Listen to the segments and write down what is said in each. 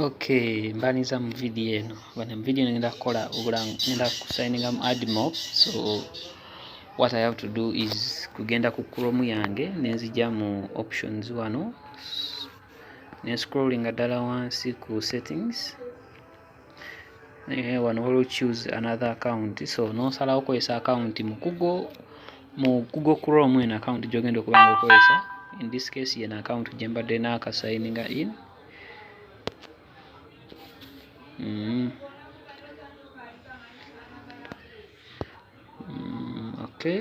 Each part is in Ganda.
Okay, mbaniza mu video eno bana mu video ngenda kukola obulango ngenda kusayininga mu admob so what I have to do is kugenda ku chrome yange nenzija mu options wano ne scrollinga ddala wansi ku settings eh, wano waliwo choose another account so nosalawo okozesa account mu google mu google chrome eno account gyogenda okuba nga okozesa in this case yena account gyembadde naakasayininga in mm. Mm, okay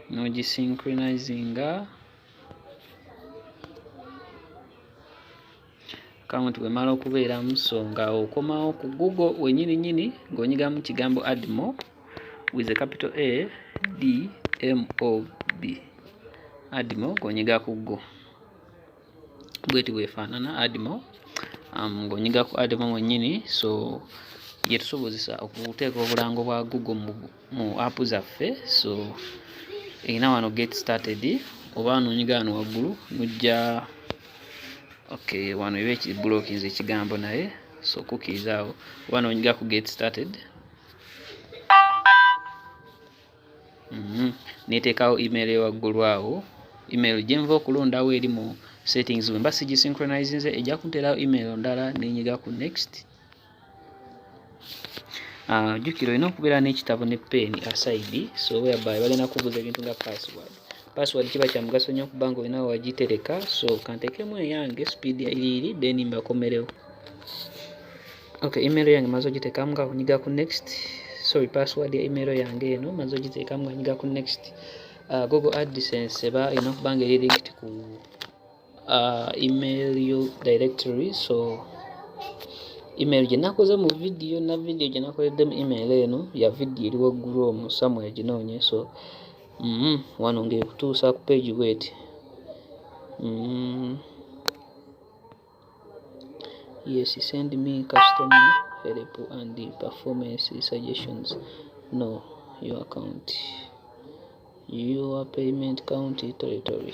nogisynchronizing akawunti bwemala okubeeramu so nga okomawo ku google wenyini nyini ng'onyigamu kigambo admo with a capital a d m o b admo ng'onyiga ku go bweti bwefaanana admo um, ng'onyiga ku admo mwennyini so yetusobozesa okuteeka obulango bwa google mu mu app zaffe so erina wano get started oba nonyiga wano waggulu nojja ok wano eba ekibulookinze ekigambo naye so kukiiza awo oba nonyiga ku get started mhm. neteekawo email ewaggulu awo email gyenva okulondawo eri mu settings bwemba sigisynchronizinze ejja kunterawo email ndala nenyiga ku next Ah, jjukira olina okubeera n'ekitabo ne peeni asaidi so whereby balina kubuuza ebintu nga password password kiba kya mugaso nnyo kuba nga olina wagitereka so kantekemu eyange speed iriiri then mbakomerewo ok email yange maze ogitekamu nga kunyiga ku next sorry password ya email yange eno maze ogitekamu nga nyiga ku next uh, google adsense eba erina okuba nga eri linked ku uh, email yo directory so email gye nakoze mu vidiyo na vidiyo gye nakoleddemu email eno ya vidiyo eri waggulu omu samuel ginoonye so mm -hmm. wano ngaekutuusa ku page bweti mm -hmm. yes send me custom help and the performance suggestions no your account your payment county territory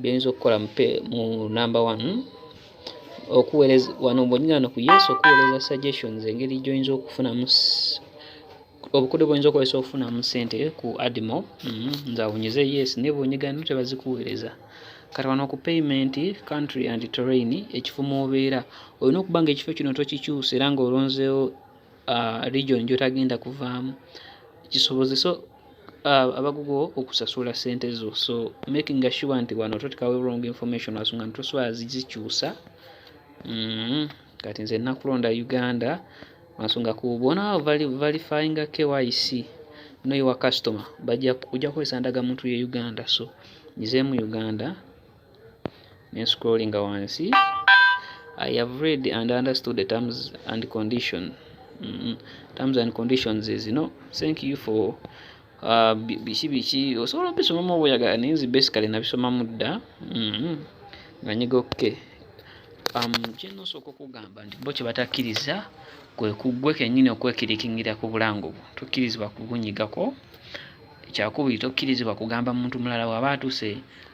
byoyinza okukola mu number one okuweereza wano bonyina no ku yesu okuweereza suggestions engeri gyoyinza okufunamu obukodyo bwoyinza okukozesa okufunamu sente ku adimo mm-hmm. nze awunyize yes naye bwonyigano tebazikuweereza kati wano ku payment country and terrain ekifo mwobeera olina okuba nga ekifo kino tokikyusa era nga olonzeewo uh, region gyotagenda kuvaamu kisobozesa uh, abagugu okusasula sente zo so making sure nti wano totekawo wrong information asonga nti toswala zizikyusa mm, kati nze nakulonda uganda ansonga ku bona verifying kyc no your customer bajja kuja kwesanda ga muntu ye uganda so nyize mu uganda ne scrollinga wansi I have read and understood the terms and condition mm -hmm. terms and conditions is no thank you for uh, biki biki osobola obisomamu obuyagala naye nzi basically nabisomamu dda mm-hmm. nga nyiga okke um, kyenosooka okugamba nti bo kyebatakkiriza kwe kuggwe kennyini okwekirikingira ku bulango bwo tokkirizibwa kubunyigako ekyakubiri tokkirizibwa kugamba muntu mulala waba atuse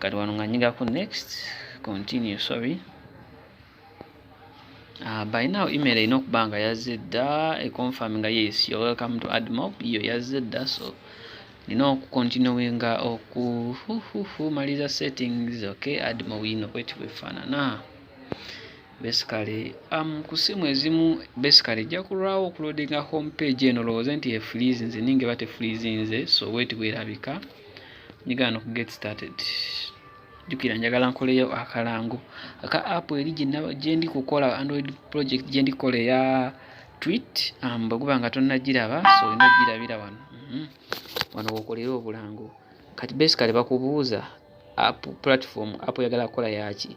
kati wano nga nyigako next continue sorry Uh, by now email erina okuba nga yazze dda econfirm nga yes you're welcome to admob iyo yazze dda so nina okukontinuinga okumaliza settings okay admob yino bweti bwefaanana basically um, ku simu ezimu basically ejja kulwawo okulodinga home page eno lowooze nti efreeze nze ninga eba tefreeze nze so bweti bwerabika right nyigaano ku get started jukira njagala nkoleyo akalango aka app eri gyendi kukola android project gyendi kukola eya twit um, bweguba nga tonagiraba so olina ogirabira wano mhm. wano wokolera obulango kati basically bakubuuza app platform app oyagala kukola yaki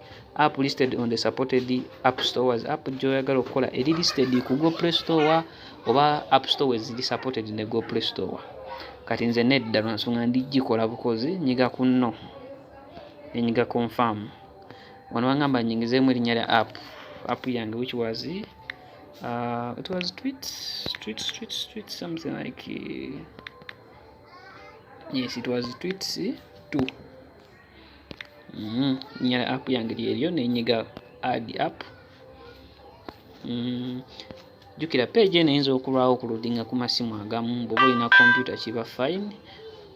app listed on the supported app stores app gyoyagala okukola eri listed ku go play store oba app store weziri supported ne go play store kati nze nedda lwansonga ndijikola bukozi nyiga ku no nenyiga confirm wano wangamba nyingizeemu erinnya lya app app yange which was uh, it was tweet tweet tweet tweet something like uh, yes it was tweet two mm-hmm. nyala app yange lyeryo nenyiga ad app mm-hmm. jukira page eno eyinza okulwawo okuludinga ku masimu agamu bwoba olina kompyuta kiba fine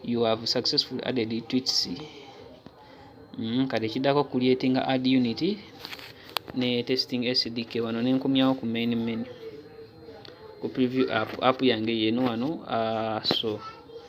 you have successful added twits mm-hmm. kati ekiddako kulyetinga ad unit ne testing sdk wano nenkomyawo ku main menu ku preview app app yange yeno wano uh, so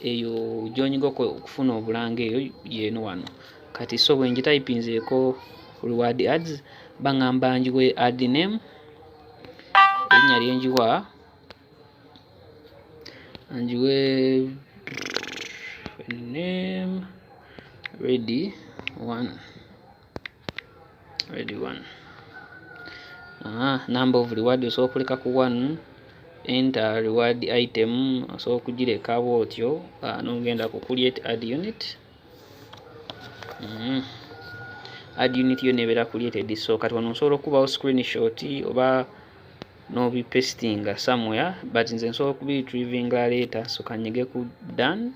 eyo gyonyiga okufuna obulanga eyo yeno wano kati so bwengitayipinzeeko reward ads baŋamba njiwe ad name erinnya lyenjiwa njiwe name ready one ready one aha number of reward osobola okuleka ku one enter reward item osobola okugireka bwotyo ah, nogenda ku create add unit mm -hmm. add unit yo nebeera created so kati wano nsobola okubawo screenshot oba nobi pasting somewhere but nze nsobola okubi retrievinga later so kanyige ku done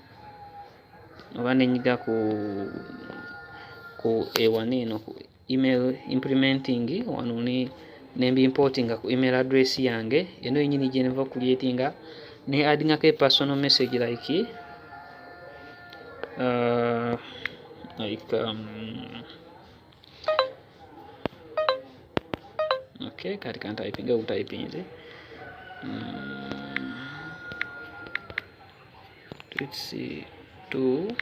oba nenyiga ku ku ewani eno ku email implementing wano ne nembimportinga ku email address yange eno yenyini gyenva creatinga ne addingako e personal message like uh, like um, okay kati kantypinga obutayipinze mm. let's see 2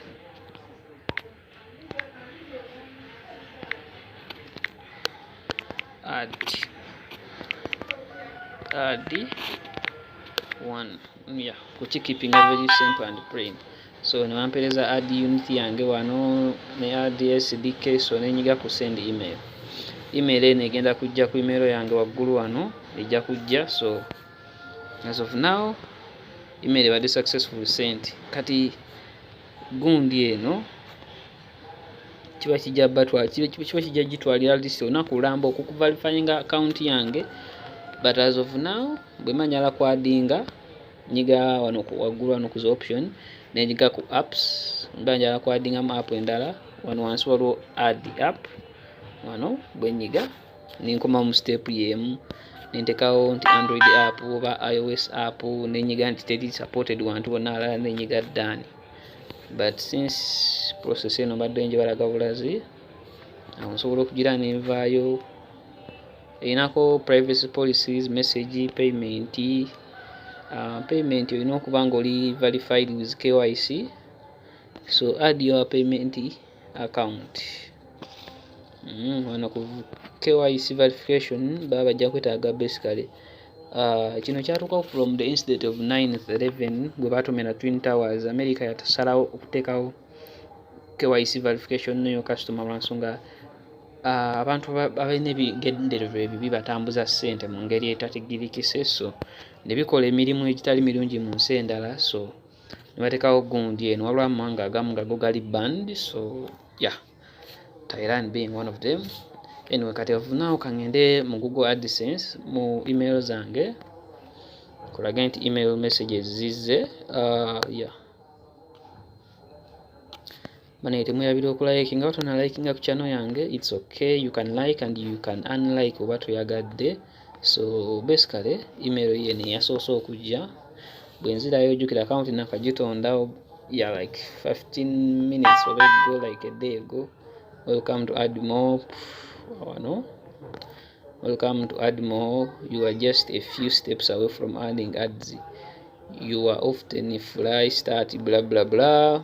add add 1 yeah kuki keeping a very simple and plain so newampereza add unit yange wano ne add sdk so nenyiga ku send email email eno egenda kujja ku email yange waggulu wano ejja kujja so as of now email ebadde successful sent kati gundi eno kiba kijja batwa kiba kijja gitwalira list ona kulamba okukuvalifyinga account yange but as of now bwemanyala kwadinga nyiga wano waggulu wano kuza option nenyiga ku apps mba njala kwadingamu app endala wano wansi waliwo add app wano bwenyiga nenkoma mu step yemu nentekawo nti android app oba ios app nenyiga nti teri supported wantu bonna alala nenyiga dani but since process eno mbadde njebalaga bulazi awo nsobola okugira nenvaayo erinako privacy policies message payment uh, payment olina okuba nga oli verified with kyc so add your payment account mm, wano ku KYC verification baba bajja kwetaaga basically uh, kino kyatuukawo from the incident of 911 gwe baatumira twin towers america yatasalawo okuteekawo KYC verification neyo customer lwansonga uh, abantu abalina ebigendererwa ebibi batambuza ssente mu ngeri etatigirikise so ne bikola emirimu egitali mirungi mu nsi endala so nebatekawo gundi eno waliwo amawanga agamu gago gali band so ya yeah. Thailand being one of them anyway kati ovunawo kangende mu google adsense mu email zange kulage nti email messages zizze uh, yeah. bana temwerabira okulayikinga oba tonalayikinga ku channel yange its okay you can like and you can unlike oba toyagadde so basically email ye neyasoose okujja bwenzirayo ojjukira akawunti nakagitondawo ya like 15 minutes oba ego like a day ago welcome to add more wano welcome to add more you are just a few steps away from earning ads you are often fly start blah blah blah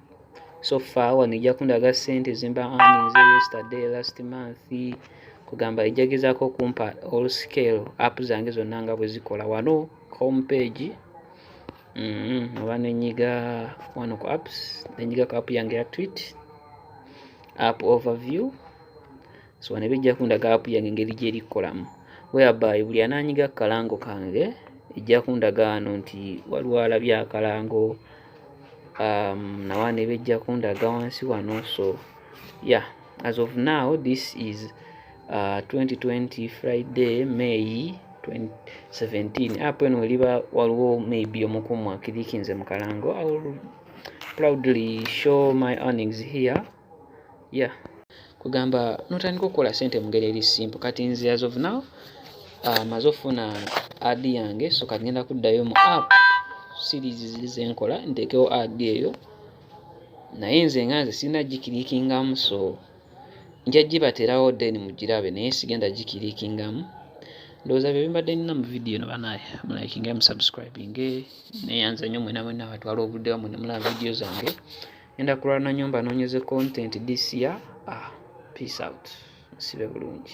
so far wano ejja kundaga sente zimba earnings yesterday last month kugamba ejja gezaako okumpa all scale app zange zonna nga bwe zikola wano home page mm-hmm. oba mm -hmm. nenyiga wano ku apps nenyiga ku app yange ya tweet app overview so wano ebijja kundaga app yange engeri gyeri kukolamu whereby buli ananyiga akalango kange ejja kundaga ano nti waliwo alabye akalango um, nawaana ebijja kundaga wansi wano so yeah as of now this is uh, 2020 friday may 2017 app eno weliba waliwo maybe omukumu akirikinze mu kalango proudly show my earnings here ya yeah. kugamba notandika okukola sente mungeri eri simple kati nze as of now ah, maze ofuna ad yange so kati ngenda kuddayo mu app series ziri zenkola nteekewo ad eyo naye nze nga nze sirina gikirikingamu so nja gibaterawo then mugirabe naye sigenda gikirikingamu ndowooza bye bimbadde nina mu vidiyo no banaye mulakinge musubscribinge neyanza nnyo mwena mwena batwala obudde wamwe nemulaba vidiyo zange enda kulwana nyumba nonyeze content this year ah peace out nsibe bulungi